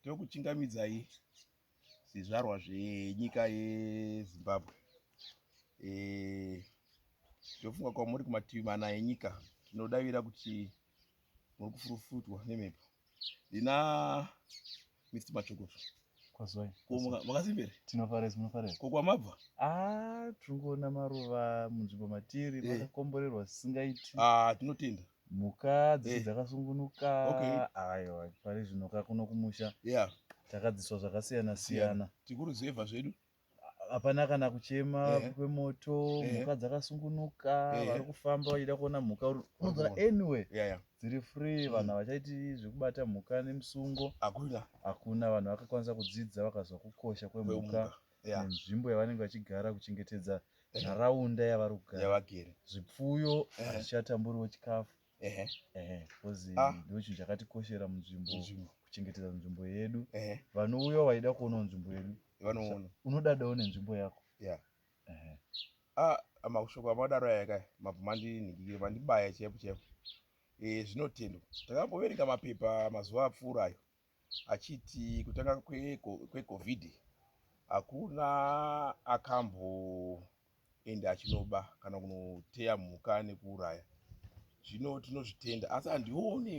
Tokuchingamidzai zvizvarwa zvenyika yeZimbabwe. Eh, ndofunga kwamuri kumativi mana enyika tinodavira kuti muri kufurufutwa nemhepo ndina mist machokoto kwazwai makasimbere tinofarei munofarei ko kwamabva ah, tiri kuona maruva munzvimbo matiri eh. makakomborerwa sisingaiti ah, tinotenda mhuka dzese Eh. dzakasungunuka Okay. aiwa pari zvino ka kuno kumusha yeah takadziswa zvakasiyana siyana tikuruzevha zvedu hapana kana kuchema Ehe. kwemoto Ehe. mhuka dzakasungunuka Ehe. vari kufamba vachida kuona mhuka uri- unodzora kuona. anyway yeah yeah dziri free Mm. vanhu havachaiti zvekubata mhuka nemusungo hakuna hakuna vanhu vakakwanisa kudzidza vakazwa kukosha kwemhuka kwemhuka yeah. nenzvimbo yavanenge vachigara kuchengetedza nharaunda yeah. yavari kugara yavagere zvipfuyo hazvichatamburiwo chikafu bcause ah. ndo chinhu chakatikoshera munzvimbo kuchengetedza nzvimbo yedu vanouya vaida kuonawo nzvimbo yedu vanoona unodadawo nenzvimbo yako yeah. ah, mashoko amadaro aya ka mabvumandinhikire mandibaya chaipo chaipo eh, zvinotendwa takamboverenga mapepa mazuva apfuura ayo achiti kutanga kwecovid kwe hakuna akamboenda achinoba kana kunoteya mhuka nekuuraya zvino tinozvitenda asi handione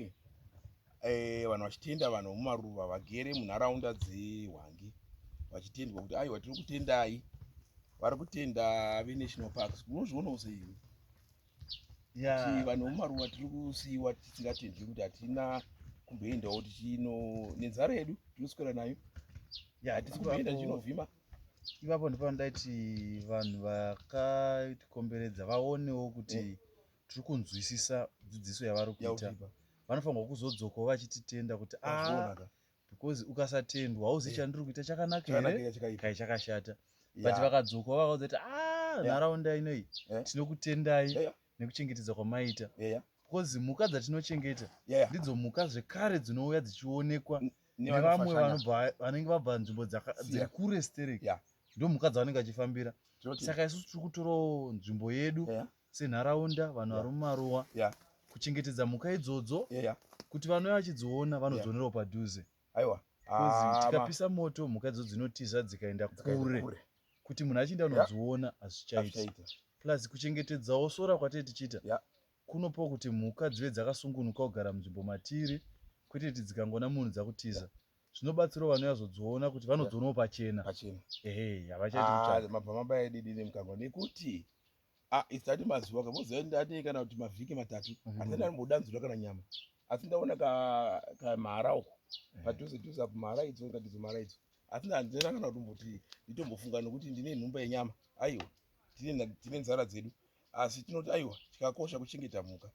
eh, vanhu vachitenda vanhu vemumaruva vagere munharaunda dzehwangi vachitendwa kuti aiwa tiri kutendai vari kutenda venational parks munozvionawo seimi kuti vanhu vomumaruwa tiri kusiiwa tisingatendwi kuti hatina kumboendawo tichino nenzara yedu tinoswera nayo ya hatisi kumboenda tichinovhima ipapo ndipo ndaiti vanhu vakatikomberedza vaonewo kuti eh. tiri kunzwisisa dzidziso yavari kuita vanofanirwa kuzodzokawo vachititenda kuti a ah, because ukasatendwa hauzi chandiri kuita chakanaka here kai chakashata but vakadzoka vakaudza kuti ah, a nharaunda inoi eh? tinokutendai nekuchengetedza kwamaita because mhuka dzatinochengeta ndidzo mhuka zvekare dzinouya dzichionekwa nevamwe vanenge vabva nzvimbo dziri kure stereki ndomhuka dzavanenge vachifambira saka isusu tiri kutorawo nzvimbo yedu senharaunda vanhu vari mumaruwa kuchengetedza mhuka idzodzo kuti vanouya vachidziona vanodzionerawo padhuze aiwa ah, tikapisa moto mhuka idzo dzinotiza dzikaenda kure kuti munhu achienda anodziona hazvichaita plus kuchengetedzawo sora kwatee tichiita kunopawo kuti mhuka dzive dzakasungunuka kugara munzvimbo matiri kwete kuti dzikangoona munhu dzakutiza zvinobatsirawo vanhu vazodziona kuti vanodzionawo pachena ehe havachaiti ah, mabva mabaya didini mukangwa nekuti Ah, it's that mazuva ka moziva ndati kana kuti mavhiki matatu mm-hmm. asi ndanomboda nzura kana nyama asi ndaona ka ka mara uko eh. padhuze dhuze apo mara idzo ngatidzo mara idzo asi ndandina kana kuti mbuti nditombofunga nokuti ndine nhumba yenyama aiwa tine tine nzara dzedu asi tinoti aiwa chikakosha kuchengeta mhuka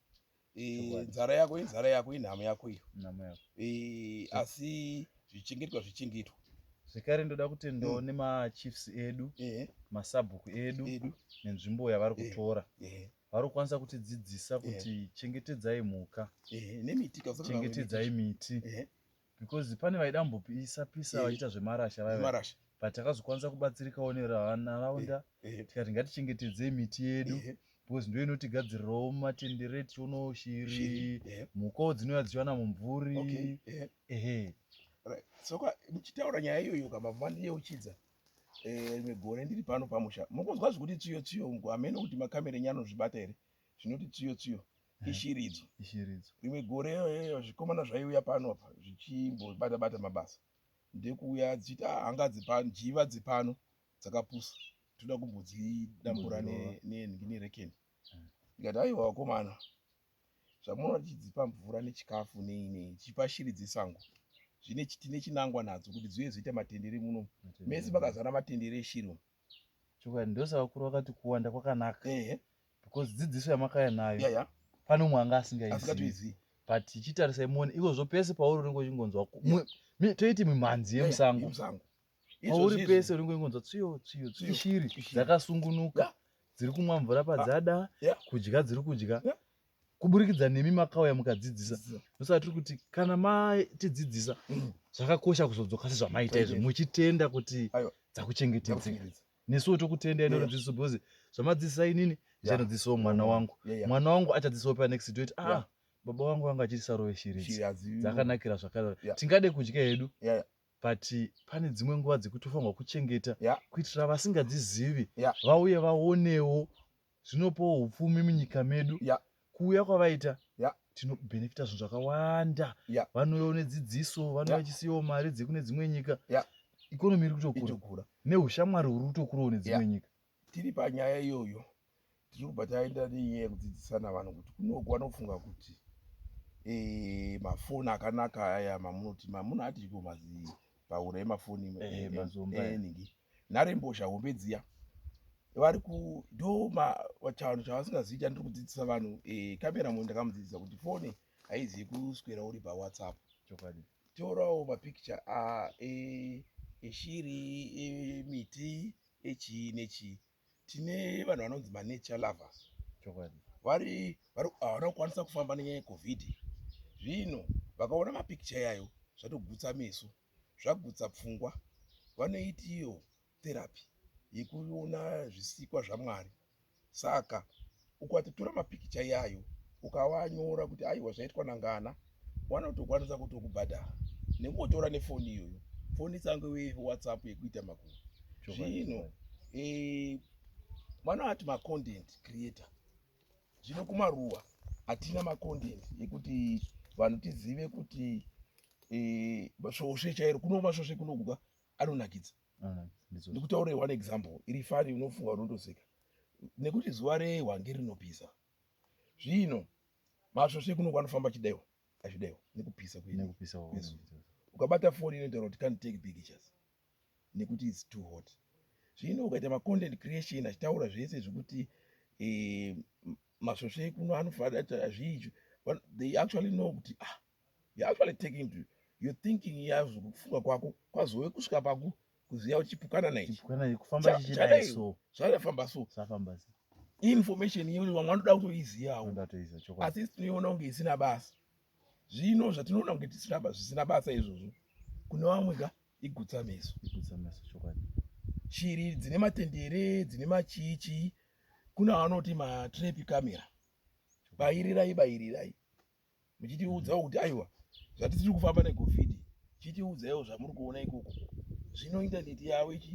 nzara yako inzara yako inhamo yako iyo asi zvichengetwa zvichengetwa zvekare ndoda kuti ndoone mm. machiefs edu masabhuku edu nenzvimbo yavari kutora vari kukwanisa kutidzidzisa kuti chengetedzai mhuka chengetedzai miti because pane vaida kumbopisa pisa vachiita zvemarasha vaiva but takazokwanisa kubatsirikawo nenharaunda tikati ngatichengetedzei miti yedu because ndo inotigadzirirawo matendere tichionawo shiri mhukawo dzinouya dzichiwana mumvuri ehe soka ndichitaura nyaya iyoyo ka mabva ndiyeuchidza rimwe eh, gore ndiri pano pamusha mukunzwa zvekuti tsiyo tsiyo ngo hameno kuti makamera enyu anozvibata here zvinoti tsiyo tsiyo eh, ishiri idzo ishiri idzo rimwe gore eh, zvikomana zvaiuya pano apa zvichimbobata bata mabasa ndekuuya dzichita hanga dzepano njiva dzepano dzakapusa toda kumbodzidambura nerekeni eh. ndikati aiwa vakomana zvamunoona tichidzipa mvura nechikafu nei nei tichipa shiri dzesango zvine tine chinangwa nadzo kuti dziuye dzoita matendere muno mese makazara matendere eshiri chokwadi ndosavakuru vakati kuwanda kwakanaka ehe because dzidziso yamakaya nayo yeah, yeah. pane umwe anga asingaizivi but ichitarisai muone ikozvo pese pauri unenge uchingonzwa toiti mimhanzi yemusango pauri pese unenge uchingonzwa tsiyo tsiyo tsiyo shiri dzakasungunuka dziri kumwa mvura ah, padzada kudya dziri kudya kuburikidza nemi makauya mukadzidzisa ndosaka tiri kuti kana matidzidzisa mm. zvakakosha kuzodzoka sezvamaita izvo muchitenda kuti dzakuchengetedzeka nesuwo tokutendai yeah. norunzviso because zvamadzidzisa inini ndichanodzidzisawo yeah. mwana wangu yeah, yeah. mwana wangu achadzidzisawo panext toiti ah yeah. baba wangu vanga achiri sarove shiridzi dzakanakira zvakadaro yeah. tingade kudya hedu yeah, yeah but pane dzimwe nguva dzekuti ufanirwa kuchengeta yeah. kuitira vasingadzizivi yeah. vauye vaonewo zvinopawo upfumi munyika medu yeah. kuuya kwavaita yeah. tinobhenefita zvinhu zvakawanda yeah. vanouyawo nedzidziso vanouya yeah. vachisiyawo mari dzekune dzimwe nyika yeah. ikonomi iri kutokura neushamwari huri kutokurawo nedzimwe yeah. nyika tiri panyaya iyoyo tiri kubva taenda nenyaya yekudzidzisana vanhu kuti kunoku vanofunga kuti eh, mafoni akanaka aya mamunoti mamuno atiko mazii paura yemafoni eningi eh, eh, eh, nharembozha hombe dziya vari kudoma chanhu chavasingazivi chandiri kudzidzisa vanhu eh, kamera mo ndakamudzidzisa kuti fone haizivi kuswera uri pawhatsapp chokwadi torawo mapicture ah, eh, eshiri emiti echii nechii tine vanhu vanonzi manature lovers chokwadi vari havana kukwanisa kufamba nenyaya yecovid zvino vakaona mapicture yayo zvatogutsa meso zvagutsa pfungwa vanoiti iyo therapy yekuona zvisikwa zvaMwari. Saka ukatotora mapikicha iyayo ukavanyora kuti aiwa zvaitwa nangana, vanotokwanisa kutokubhadhara nekutotora nefoni iyoyo, foni tsange WhatsApp yekuita makuva zvino eh, vanoti macontent creator Zvino kumaruwa hatina macontent ekuti vanhu tizive kuti eh, svosve chairo kuno masvosve kunogwa anonakidza ndikutaure one example iri fani unofunga unotoseka nekuti zuva rehwange rinopisa zvino masvosve kuno kwanofamba chidaiwa azvidaiwa nekupisa kwedu ukabata foni inotaura kuti can take pictures nekuti its too hot zvino ukaita macontent creation achitaura zvese zvekuti eh, masvosve ekuno anofaata azviizvi they actually know kuti ah you actually taking to your thinking yazvo kufunga kwako kwazove kusvika paku kuziva uchipukana naizvadafamba so information iyo vamwe vanoda kutoizivawo asi tinoiona kunge isina basa zvino zvatinoona kunge tisina basa zvisina basa izvozvo kune vamwe ka igutsa meso igutsa meso chokwadi shiri dzine matendere dzine machichi kuna vanoti matrepi camera bairirai bairirai muchitiudzawo kuti aiwa zvatisiri kufamba negovhidi chitiudzaiwo zvamuri kuona ikoko zvino intaneti yavo ichi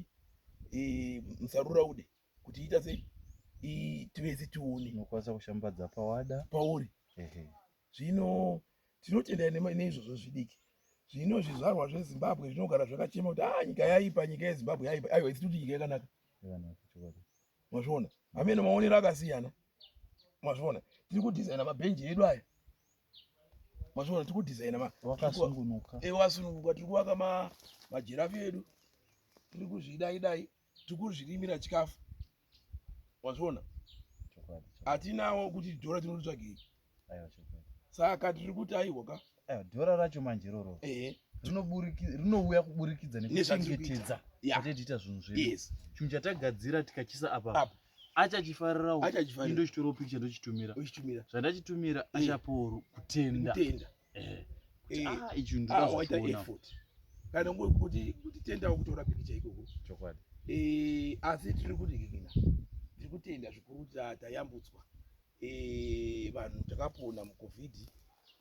e, musarura ude kuti ita sei tivese tione unokwanisa kushambadza pawada pauri Zvino tinotenda neizvozvo zvidiki. Zvino zvizvarwa zveZimbabwe zvinogara zvakachema kuti ah, nyika yaipa, nyika yeZimbabwe yaipa. Aiwa, isi tiri nyika yakanaka. Mazviona amene maonero akasiyana. Mazviona tiri kudhizaina mabhenji edu aya. Mazviona tiri kudhizaina wakasungunuka, ewasungunuka, tiri kuvaka majirafi edu, tiri kuzvidai dai. tikuzvirimira chikafu wazviona hatinawo kuti dhora tinotsvagei saka tiri kuti aiwa ka dhora racho manje roro rinouya kuburikidza nekuchengetedza atetiita zvinhu zvedu chinhu chatagadzira tikachisa apa achachifarirawo indo chitoro picha ndochitumira zvandachitumira achaporu kutenda eh. ah, ichi ndinozoona ah, effort kana ngo kuti kuti tenda kutora pikicha ikoko chokwadi eh asi tiri kuti kikina tiri kutenda zvikuru tayambutswa eh vanhu takapona mu covid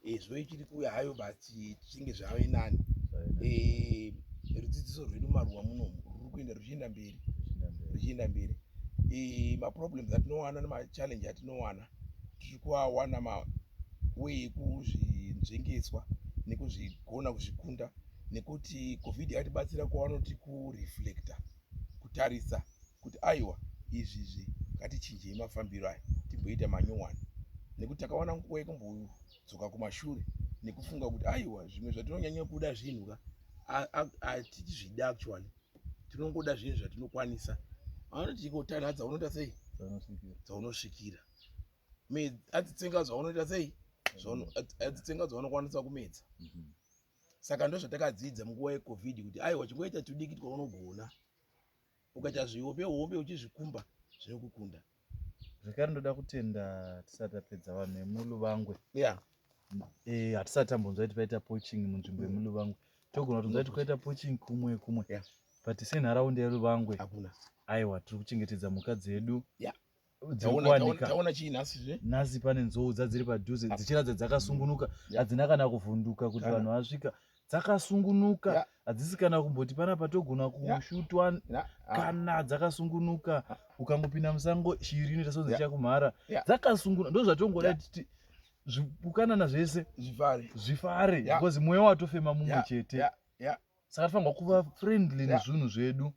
eh zvoe chiri kuya hayo basi tichinge zvave nani eh rudzidziso rwedu maruwa muno ruri kuenda ruchienda mberi ruchienda mberi eh ma problems atinowana ne ma challenge atinowana tiri kuawana mawee ekuzvinzvengeswa nekuzvigona kuzvikunda nekuti covid yakatibatsira kwavanoti kureflecta kutarisa kuti aiwa izvizvi ngatichinjei mafambiro aya timboita manyowani nekuti takawana nguva yekumbodzoka kumashure nekufunga kuti aiwa zvimwe zvatinonyanya kuda zvinhu ka atichizvida actually tinongoda zvinhu zvatinokwanisa anoti ikotanhadza unoita sei dzaunosvikira adzitsenga zvaunoita sei adzitsenga zvaunokwanisa kumedza mhm. saka ndo zvatakadzidza munguva yecovid kuti aiwa chingoita tudiki twaunogona ukaita zvihombe hombe uchizvikumba zvinokukunda zvekare ndoda kutenda tisati tapedza vanhu vemuluvangwe yeah. e, hatisati tambonzwa kuti paita poaching munzvimbo yemuluvangwe togona kutonzwa kuti kwaita poaching kumwe kumwe yeah. but senharaunda yeruvangwe hakuna aiwa tiri kuchengetedza mhuka dzedu yeah dzirikuwanikataona chii nhasi zve nhasi pane nzou dzadziri padhuze dzichiratidza dzakasungunuka hadzina kana kuvhunduka kuti vanhu vasvika dzakasungunuka yeah. hadzisi kana kumboti pana patogona kushutwa yeah. yeah. Ah. kana dzakasungunuka ah. ukangopinda musango shiri inoita sonzi yeah. chakumhara yeah. dzakasungunuka ndo zvatongoda yeah. titi zvipukanana zvese zvifare zvifare yeah. because mweya watofema mumwe yeah. chete yeah. yeah. saka tifanirwa kuva friendly yeah. nezvinhu zvedu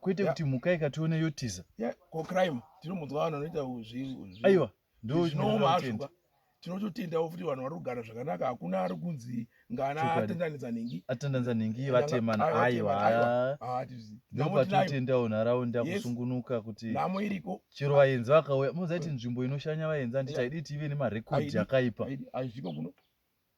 kwete kuti mhuka ikationa yotiza ko crime tinomunzwa vanhu vanoita aiwa ndozvinomaazvoka tinototendawo futi vanhu vari kugara zvakanaka hakuna ari kunzi ngana atendanidza nhingi atendanidza nhingi vatemana aiwa ndopatinotendawo nharaunda kusungunuka kuti namo iriko chero vaenzi vakauya mozaiti nzvimbo inoshanya vaenzi handiti haidi tive nemarekodhi akaipa hazviko kuno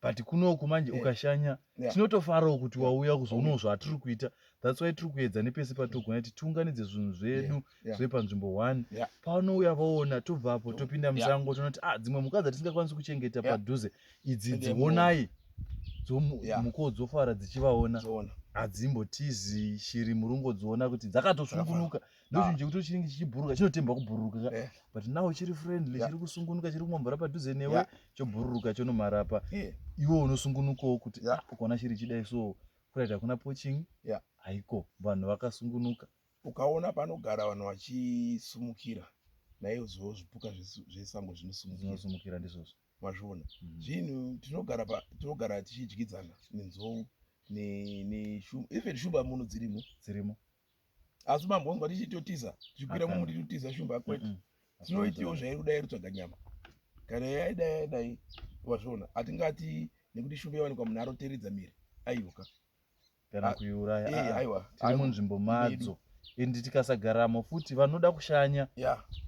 but kunoku manje yeah. ukashanya yeah. tinotofarawo kuti yeah. wauya kuzoonawo zvatiri kuita thats why tiri kuedza nepese patogona kuti tiunganidze zvinhu zvedu yeah. yeah. zve panzvimbo one yeah. paanouya vaona tobvapo topinda musango yeah. tonoti ah dzimwe mhuka dzatisingakwanisi kuchengeta yeah. padhuze idzi dzionai mhukawo dzofara dzichivaona hadzimbotizi shiri murungodziona kuti dzakatosungunuka yeah. ndochunhu chekuti chinenge chichibhururuka chinotemba kubhururuka ka eh. but now chiri friendly chiri kusungunuka chiri kumwa mvura padhuze newe chobhururuka chonomhara pa eh. iwe unosungunukawo kuti ah, ukaona chiri chidai so kuraita hakuna poching haiko vanhu vakasungunuka ukaona panogara vanhu vachisumukira naiozvo zvipuka zvesango zvinosumukira ndizvozvo mazviona mhm. zvinhu tinogara tichidyidzana nenzou even shuba muno dzirimo dzirimo asi mambonzwa tichitotiza tichikwira mumuti totiza shumba kwete tinoitiwo zvairi kudai rutsvaga nyama kana yaida yadai wazviona hatingati nekuti shumba yawanikwa munhu aroteredza miri aiwka kana ah, kuiuraya eh, ah, aiwa tiri munzvimbo madzo endi tikasagaramo futi vanoda kushanya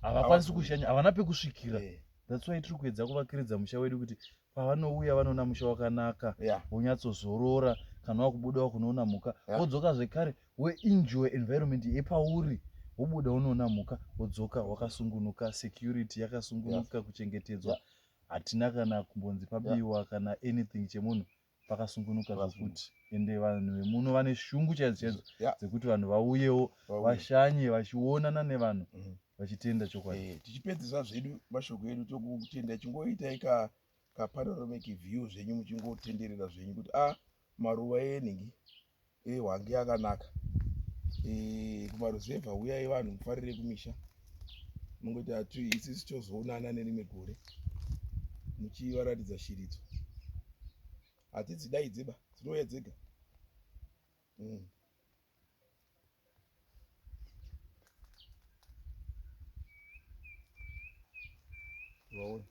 havakwanisi kushanya havana pekusvikira eh. that's why tiri kuedza kuvakiridza musha wedu kuti pavanouya vanoona musha wakanaka yeah. wonyatsozorora kana wakubuda wakunoona mhuka yeah. wodzoka zvekare weinjoy environment yepauri wobuda unoona mhuka wodzoka wakasungunuka security yakasungunuka yeah. kuchengetedzwa yeah. hatina kana kumbonzi pabiwa yeah. kana anything chemunhu pakasungunuka zvokuti ende vanhu vemuno vane shungu chaidzo chaidzo yeah. dzekuti vanhu vauyewo vashanye vachionana nevanhu mm -hmm. vachitenda chokwadi eh, tichipedzisa zvedu mashoko edu tokutenda chingoitai ka kapanoramic view zvenyu muchingotenderera zvenyu kuti a ah, maruva eningi e eh, wange akanaka e eh, kumaruzevha uyai vanhu mufarire kumisha mungoita atu isisi tozoonana nerimwe gore muchivaratidza shiridzo hadzidzi dai dziba dzinouya dzega mm. Roll.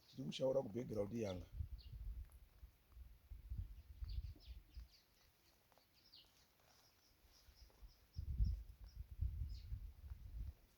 Tiri kushaura kubackground yanga.